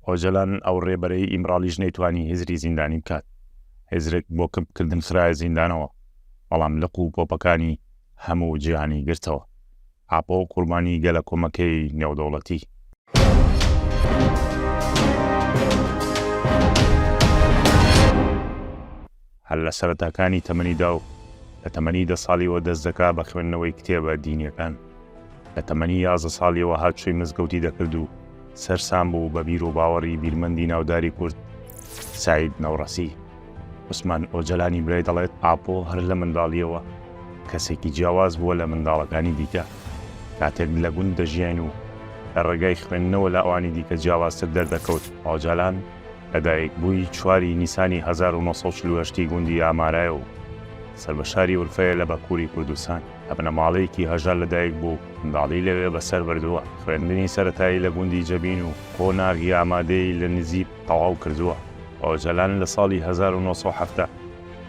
ئۆجەلان ئەو ڕێبەرەی ئیمراڵیش نەیتوانی هزری زیندانی بکات، هزرک بۆ کپ کردن خرایە زیندانەوە، بەڵام لق و پۆپەکانی هەموو جیهانی گرتەوە. ئاپۆ قوربانی گەلەکۆمەکەی نێودەوڵەتی. هەر لە سەرەتاکانی تەمەنیدا و لە تەمەنی دە ساڵیەوە دەست دەکا بە خوێندنەوەی کتێبە دینیەکان، لە تەمەنی یازدە ساڵیەوە هاتوچۆی مزگەوتی دەکرد و سەرسام بوو بە بیر و باوەڕی بیرمەندی ناوداری کورد سەعید نەوڕەسی. عوسمان ئۆجەلانی برای دەڵێت ئاپۆ هەر لە منداڵیەوە کەسێکی جیاواز بووە لە منداڵەکانی دیکە، کاتێک لە گوند دەژیاین و لە ڕێگای خوێندنەوە لە ئەوانی دیکە جیاوازتر دەردەکەوت، ئۆجەلان، لەدایکبووی چوار ی نیسانی هەزار و نۆ سەد و چل و هەشت ی گوندی ئامارایە و سەر بە شاری ئورفەیە لە بەکووری کوردستان. لە بنەماڵەیەکی هەژار لەدایکبوو و منداڵی لەوێ بەسەر بردووە. خوێندنی سەرەتایی لە گوندی جەبین و قۆناغی ئامادەیی لە نجیب تەواو کردووە. ئۆجەلان لە ساڵی هەزار و نۆ سەد و حەفتا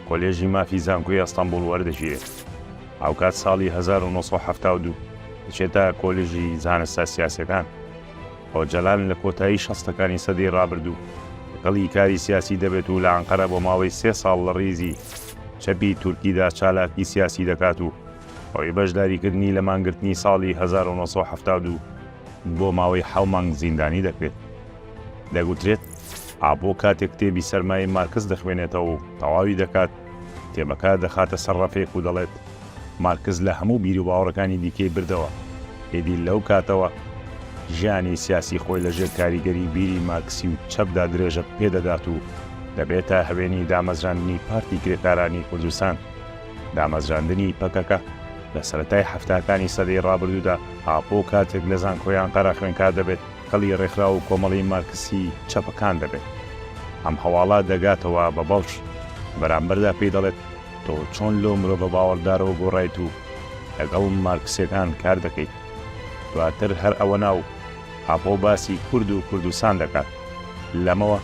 کۆلێژی مافی زانکۆی ئەستەنبوڵ وەردەگیرێت. هاوکات ساڵی هەزار و نۆ سەد و حەفتا و دوو دەچێتە کۆلژی زانستە سیاسیەکان. ئۆجەلان لە کۆتایی شەستەکانی سەدەی ڕابردوو گەڵی کاری سیاسی دەبێت و لە ئەنقەرە بۆ ماوەی سێ ساڵ لە ڕیزی چەپی تورکیدا چالاکی سیاسی دەکات و بەهۆی بەشداریکردنی لە مانگرتنی ساڵی هەزار و نۆ سەد و حەفتا و دوو بۆ ماوەی حەو مانگ زیندانی دەکرێت. دەگوترێت ئاپۆ کاتێک کتێبی سەرمایەی مارکس دەخوێنێتەوە و تەواوی دەکات، کتێبەکە دەخاتە سەر ڕەفێک و دەڵێت، مارکس لە هەموو بیروباوەڕەکانی دیکەی بردەوە، ئیدی لەو کاتەوە ژیانی سیاسی خۆی لە ژێر کاریگەری بیری مارکسی و چەپدا درێژە پێ دەدات و دەبێتە هەوێنی دامەزراندنی پارتی کرێکارانی کوردستان، دامەزراندنی پەکەکە لە سەرەتای حەفتاکانی سەدەی ڕابردوودا، ئاپۆ کاتێک لە زانکۆی ئانقەرە خوێنکار دەبێت، کەڵی ڕێکخراو و کۆمەڵەی مارکسی چەپەکان دەبێت. ئەم هەواڵە دەگاتەوە بە بەڵش بەرامبەردا پێی دەڵێت، تۆ چۆن لەو مرۆڤە باوەڕدارەوە گۆڕایت و لەگەڵ مارکسیەکان کار دەکەیت؟ دواتر هەر ئەوەنا و ئاپۆ باسی کورد و کوردستان دەکات. لەمەوە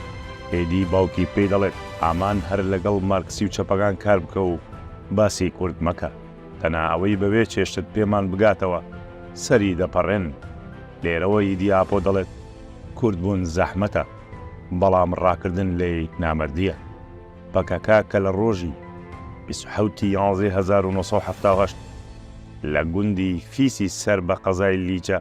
ئێدی باوکی پێی دەڵێت، ئامان هەر لەگەڵ مارکسی و چەپەکان کار بکە و باسی کورد مەکە. دەنا ئەوەی بەبێ چێشت پێمان بگاتەوە سەری دەپەڕێن. لێرەوە ئیدیاپۆ دەڵێت، کوردبوون زەحمەتە، بەڵام ڕاکردن لێی نامەردییە. پەکەکە کە لە ڕۆژی بیست و حەوت ی یانزەی هەزار و نۆ سەد و حەفتا و هەشت لە گوندی فیسی سەر بە قەزای لیچە،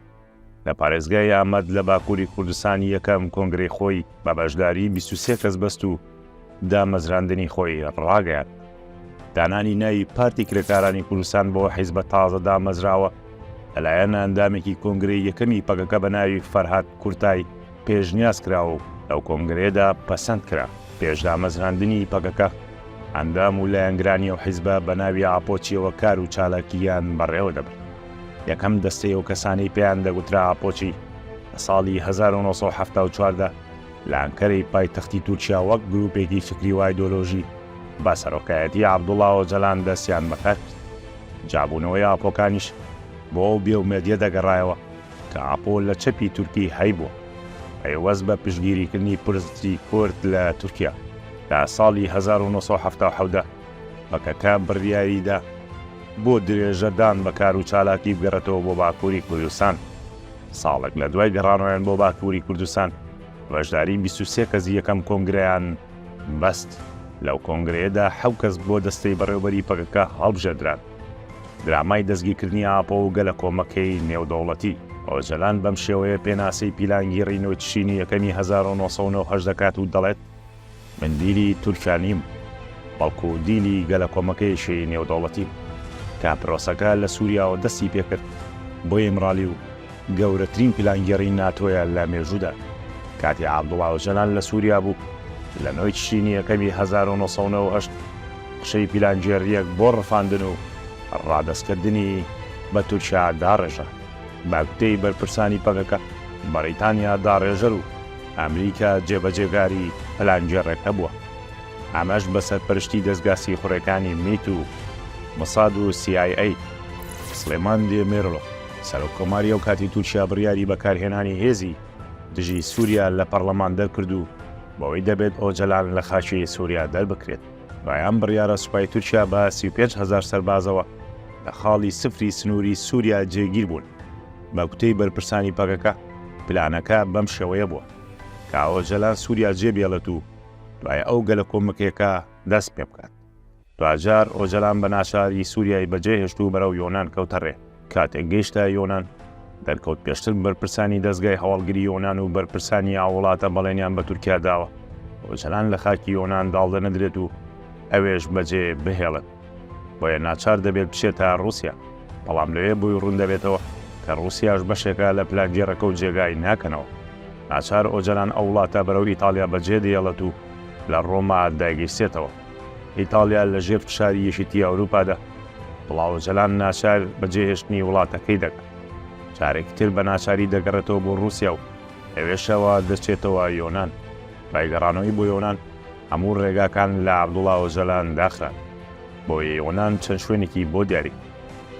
لە پارێزگای ئامەد لە باکووری کوردستان یەکەم کۆنگرەی خۆی بە بەشداری 23 کەس بەست و دامەزراندنی خۆی ڕاگەیاند. دانانی ناوی پارتی کرێکارانی کوردستان بۆ حیزبە تازە دامەزراوە لەلایەن ئەندامێکی کۆنگرەی یەکەمی پەکەکە بە ناوی فەرهاد کورتای پێشنیاز کرا و لەو کۆنگرەیەدا پەسەند کرا. پێش دامەزراندنی پەکەکە، ئەندام و لایەنگرانی ئەو حیزبە بە ناوی ئاپۆچییەوە کار و چالاکییان بەڕێوە دەبرد. یەکەم دەستەی ئەو کەسانەی پێیان دەگوترا ئاپۆچی، لە ساڵی هەزار و نۆ سەد و حەفتا و چوار دا لە ئەنکەرەی پایتەختی تورکیا وەک گرووپێکی فیکری و ئایدۆلۆژی بە سەرۆکایەتیی عەبدوڵا ئۆجەلان دەستیان بەکار کرد. جابوونەوەی ئاپۆکانیش بۆ ئەو بێئومێدییە دەگەڕایەوە. کە ئاپۆ لە چەپی تورکی هەیبووە پەیوەست بە پشتگیریکردنی پرسی کورد لە تورکیا، لە ساڵی هەزار و نۆ سەد و حەفتا و حەوت دا پەکەکە بڕیاری دا بۆ درێژە دان بە کار و چالاکی بگەڕێتەوە بۆ باکووری کوردستان. ساڵێک لە دوای گەڕانەوەیان بۆ باکووری کوردستان، بەشداری بیست و سێ کەسی یەکەم کۆنگرەیان بەست، لەو کۆنگرەیەدا حەو کەس بۆ دەستەی بەڕێوەبەری پەکەکە هەڵبژێردران. درامای دەستگیرکردنی ئاپۆ و گەلەکۆمەکەی نێودەوڵەتی، ئۆجەلان بەم شێوەیە پێناسەی پیلانگیڕی نۆی تشرینی یەکەمی هەزار و نۆ سەد و نۆ و هەشت دەکات و دەڵێت، من دیلی تورکیا نیم، بەڵکو دیلی گەلەکۆمەکەیەکی نێودەوڵەتیم، کە پرۆسەکە لە سووریاوە دەستی پێکرد، بۆ ئیمرالی و گەورەترین پیلانگێڕی ناتۆیە لە مێژوودا. کاتی عەبدوڵا ئۆجەلان لە سووریا بوو، لە نۆی تشرینی یەکەمی هەزار و نۆ سەد و نەوەد و هەشت قژەی پیلانگێڕییەک بۆ ڕفاندن و ڕادەستکردنی بە تورکیا داڕێژا. بە گوتەی بەرپرسانی پەکەکە، بەڕیتانیا داڕێژەر و ئەمریکا جێبەجێکاری پلانگێڕێکە بووە، ئەمەش بە سەرپەرشتی دەزگا سیخوڕێکانی میت و مساد و سی ئای ئەی. سڵێمان دێمیرڵ، سەرۆککۆماری ئەو کاتی تورکیا بڕیاری بەکارهێنانی هێزی دژی سووریا لە پەڕڵەمان دەرکرد و بەوەی دەبێت ئۆجەلان لە خاکی سووریا دەربکرێت. دوای ئەم بڕیارە سوپای تورکیا بە سی و پێنج هەزار سەربازەوە لە خاڵی سفری سنووری سووریا جێگیر بوون. بە گوتەی بەرپرسانی پەکەکە پلانەکە بەم شێوەیە بووە کە ئۆجەلان سووریا جێبێڵێت و دوای ئەو گەلەکۆمەکێکە دەست پێبکات. دواجار ئۆجەلان بە ناچاری سوریای بەجێهێشت و بەرەو یۆنان کەوتە ڕێ، کاتێک گەیشتە یۆنان، دەرکەوت پێشتر بەرپرسانی دەزگای هەواڵگری یۆنان و بەرپرسانی ئاو وڵاتە بەڵێنیان بە تورکیا داوە ئۆجەلان لە خاکی یۆنان داڵدە نەدرێت و ئەوێش بەجێ بهێڵن بۆیە ناچار دەبێت بچێتە ڕوسیا بەڵام لەوێ بۆی ڕوون دەبێتەوە کە ڕوسیاش بەشێکە لە پلانگێڕەکە و جێگای ناکەنەوە ناچار ئۆجەلان ئەو وڵاتە بەرەو ئیتاڵیا بەجێ دێڵێت و لە ڕۆما دایگەیسێتەوە. ئیتاڵیا لە ژێر فشاری یەکێتی ئەوروپادا، بڵاو ئۆجەلان ناچار بە جێهێشتنی وڵاتەکەی دەکات، جارێکی تر بە ناچاری دەگەڕێتەوە بۆ ڕووسیا و لەوێشەوە دەچێتەوە یۆنان، دوای گەڕانەوەی بۆ یۆنان هەموو ڕێگاکان لە عەبدوڵا ئۆجەلان داخران، بۆ یۆنان چەند شوێنێکی بۆ دیاری بوو،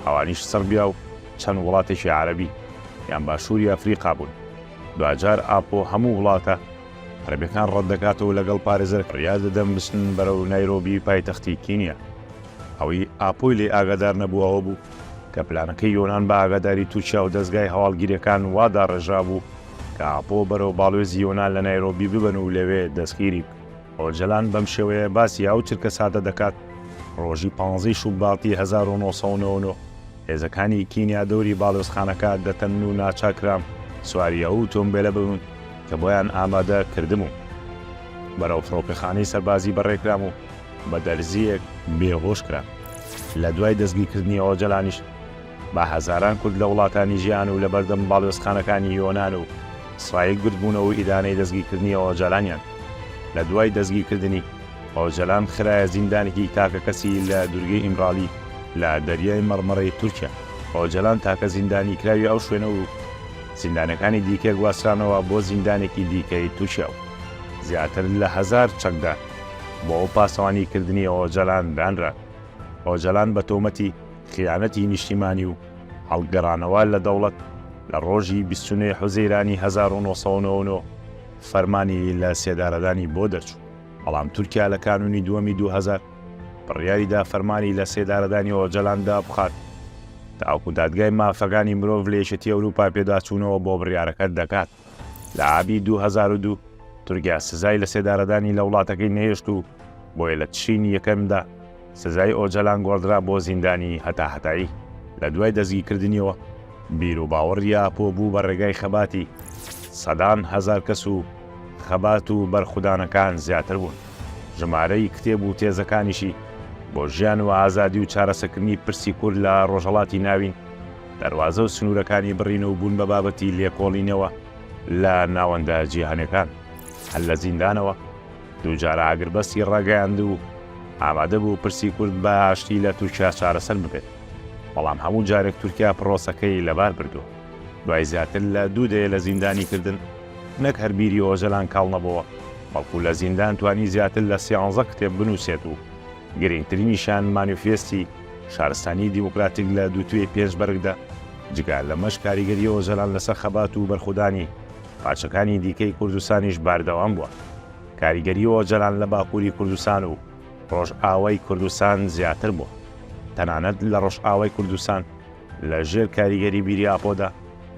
ئەوانیش سڕبیا و چەند وڵاتێکی عەرەبی یان باشووری ئەفریقا بوون، دواجار ئاپۆ هەموو وڵاتە، عەرەبەکان ڕەت دەکات و لەگەڵ پارێزەر فریاد دەدەن بچن بەرەو نایرۆبی پایتەختی کینیا. ئەوەی ئاپۆی لێی ئاگادار نەبوو ئەوە بوو کە پلانەکەی یۆنان بە ئاگاداری تورکیا و دەزگای هەواڵگیرییەکان وا داڕێژرابوو کە ئاپۆ بەرەو باڵوێزی یۆنان لە نایرۆبی ببەن و لەوێ دەستگیری بکەن. ئۆجەلان بەم شێوەیە باسی ئەو چرکەساتە دەکات، ڕۆژی پانزەی شوباتی هەزار و نۆ سەد و نەوە و نۆ، هێزەکانی کینیا دەوری باڵیۆزخانەکە دەتەنن و ناچار کرام سواری ئەو ئوتۆمبێلە ببم کە بۆیان ئامادە کردبووم. بەرەو فڕۆکەخانەی سەربازی بەڕێ کرام و بە دەرزییەک بێهۆش کرام. لە دوای دەستگیرکردنی ئۆجەلانیش بە هەزاران کورد لە وڵاتانی جیهان و لە بەردەم باڵیۆزخانەکانی یۆنان و سرایک بردبوونەوە و ئیدانەی دەستگیرکردنی ئۆجەلانیان لە دوای دەستگیرکردنی ئۆجەلان خرایە زیندانێکی تاکەکەسی لە دوورگەی ئیمرالی لە دەریای مەڕمەڕەی تورکیا. ئۆجەلان تاکە زیندانیکراوی ئەو شوێنە و زیندانەکانی دیکە گواسترانەوە بۆ زیندانێکی دیکەی تورکیا و زیاتر لە هەزار چەکدار بۆ پاسەوانیکردنی ئۆجەلان دانران. ئۆجەلان بە تۆمەتی خیانەتی نیشتیمانی و هەڵگەڕانەوە لە دەوڵەت لە ڕۆژی بیست و نۆ حوزەیرانی هەزار و نۆ سەد و نەوە و نۆ فەرمانی لە سێدارەدانی بۆ دەرچوو. بەڵام تورکیا لە کانوونی دووەمی دوو هەزار بڕیاری دا فەرمانی لە سێدارەدانی ئۆجەلان دابخات تاوەکو دادگای مافەکانی مرۆڤ لە یەکێتی ئەوروپا پێداچوونەوە بۆ بڕیارەکە دەکات لە ئابی دوو هەزار و دوو تورکیا سزای لە سێدارەدانی لە وڵاتەکەی نەهێشت و بۆیە لە تشرینی یەکەمدا سزای ئۆجەلان گۆڕدرا بۆ زیندانی هەتاهەتایی، لە دوای دەستگیکردنیەوە بیروباوەڕی ئاپۆ بوو بە ڕێگای خەباتی سەدان هەزار کەس و خەبات و بەرخودانەکان زیاتر بوون، ژمارەی کتێب و تێزەکانیشی بۆ ژیان و ئازادی و چارەسەکردنی پرسی کورد لە ڕۆژهەڵاتی ناوین دەروازە و سنوورەکانی بڕین و بوون بە بابەتی لێکۆڵینەوە لە ناوەندە جیهانیەکان هەر لە زیندانەوە دوو جار ئاگربەستی ڕاگەیاند و ئامادەبوو پرسی کورد بە ئاشتی لە تورکیا چارەسەر ببێت، بەڵام هەموو جارێک تورکیا پڕۆسەکەی لەبار بردووە. دوای زیاتر لە دوو دەیە لە زیندانیکردن، نەک هەر بیری ئۆجەلان کاڵ نەبۆوە، بەڵکو لە زیندان توانی زیاتر لە سیانزە کتێب بنووسێت و گرینگترینیشیان مانیفێستی شارستانیی دیموکراتیک لە دووتوێی پێنج بەرگدە، جگە لەمەش کاریگەری ئۆجەلان لەسەر خەبات و بەرخودانی پارچەکانی دیکەی کوردستانیش بەردەوام بووە. کاریگەری ئۆجەلان لە باکووری کوردستان و ڕۆژئاوای کوردستان زیاتر بووە. تەنانەت لە ڕۆژئاوای کوردستان لە ژێر کاریگەری بیری ئاپۆدا،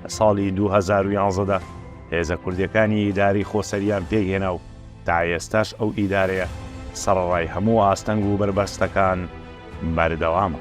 لە ساڵی دوو هەزار و یازدە دا هێزە کوردییەکانی ئیدارەی خۆسەرییان پێک هێنا و تا ئێستاش ئەو ئیدارەیە سەڕەڕای هەموو ئاستەنگ و بەربەستەکان بەردەوامە.